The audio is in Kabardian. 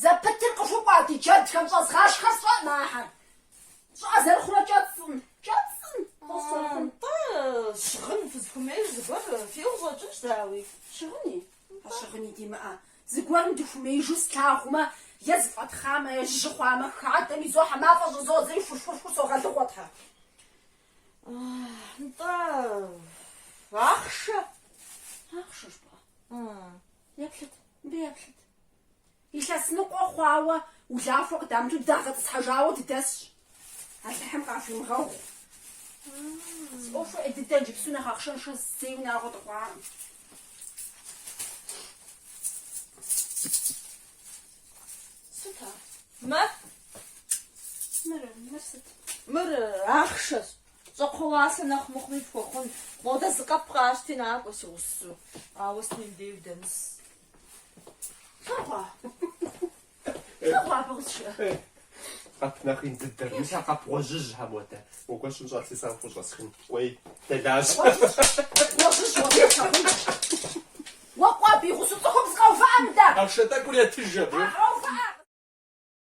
Зэпытыр къыхукӏуа ди джэдхэм щӏэзгъашхэ сщӏэӏым ахэр щӏыӏэ зэрыхъурэ кӏэцӏым, кӏэцӏым къосэхун. Тӏэ щыгъын фызыхуэмейр зыгуэр фиӏэ къыщӏэкӏынщ, дауи. Щыгъыни? А щыгъыни димыӏэ, зыгуэрым дыхуэмеижу слъагъумэ, е зэфӏэтхъамэ, е жьы хъуамэ, хадэм изохьэ, мафӏэ щӏызодзэри хурхурхур согъэлыгъуэ, тхьэ. Нтӏэ, ахъшэ. Ахъшэ пӏэ? Еплъыт, мыбы еплъыт. Илъэс ныкъуэ хъуауэ улахуэ къыдамыту дагъэтӏысхьэжауэ дыдэсщ. Алыхьым къахуимыгъэгъу. Си ӏуэхур ӏей дыдэ, иджыпсту нэхъ ахъшэншэ зэи унагъуэ дыхъуакъым. Сыт ар? Мыр? Мыр, мыр сыт? Мыр ахъшэщ. Щӏакхъуэ уасэ нэхъ мыхъуми пхуэхъун. Модэ зы къэп къащти, накӏуэ, си гъусэу. Ауэ сытми мыбдей удэмыс. Флъэгъуа? Флъэгъуа абы къысшыӏэ? Къэп нэхъ ин дыдэр. Мис а къэп гъуэжьыжь хьэ модэ. Мыгуэр щӏын щӏар си сагъ хущӏэсхын. Кӏуей, дэлажь. Гъуэжьыжь уэ къысхьэхъунщ. Уэ кӏуэ абы и гъусэу цӏыхум зыкъэувыӏэ мыдэ! Ахъшэ тӏэкӏур етыж абы. Къэувыӏэ!